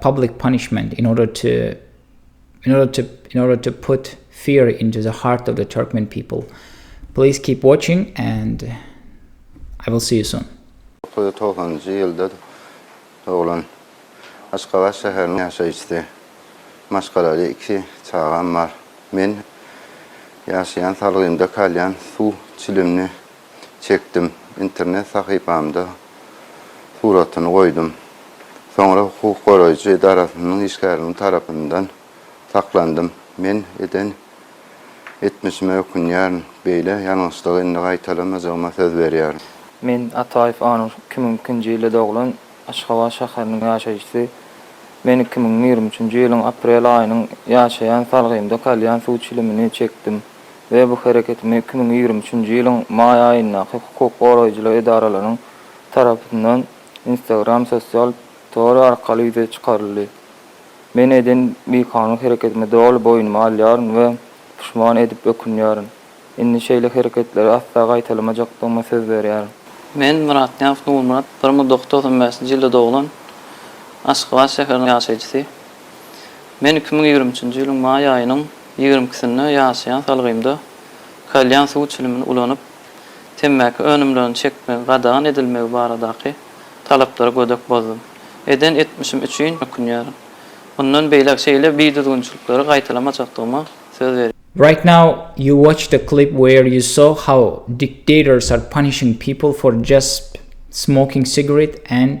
public punishment in order to in order to in order to put fear into the heart of the Turkmen people. Please keep watching and I will see you soon. 1990-njy ýylda doglan Aşgabat şäheriniň ýaşaýjysy. Maşgalaly iki çagam bar. Men ýaşaýan salgymda kalýan suw çilimli çekdim. Internet sahypamda suratyny goýdum. Soňra hukuk goraýjy edarasynyň işgäriniň tarapyndan saklandym. Men eden etmişime ökünýärin. Beýle ýalňyşlygy indi gaýtalamajygyma söz berýärin. Men Ataýew Anur, iki müň ikinji ýylda doglan, Aşgabat şäheriniň ýaşaýjysy. Men iki müň ýigrimi üçünji ýylyň aprel aýynyň ýaşaýan salgymda kalýan suw çilimini çekdim. we bu hereketimi iki müň ýigrimi üçünji ýylyň maý aýyndaky hukuk goraýjylyk edaralarynyň tarapyndan Instagram sosial tory arkaly ýüze çykaryldy. Men eden bikanun hereketimi doly boýnuma alýaryn we puşman edip ökünýärin. Indi şeýle hereketleri asla gaýtalamajakdygyma söz berýärin. Men Myratnyýazow Nurmyrat, bir müň dokuz ýüz togsan bäşinji ýylda doglan Aşgabat şäheriniň ýaşaýjysy. Men iki müň ýigrimi üçünji ýylyň maý aýynyň ýigrimi ikisinde ýaşaýan salgymda kalýan suw çilimini ulanyp, temmäki önümlerini çekmegi gadagan edilmegi baradaky talaplary gödek bozdum. Eden etmişim üçin ökünýärin. Mundan beýläk şeýle bidüzgünçilikleri gaýtalamajakdygyma söz berýän. Right now you watch the clip where you saw how dictators are punishing people for just smoking cigarette and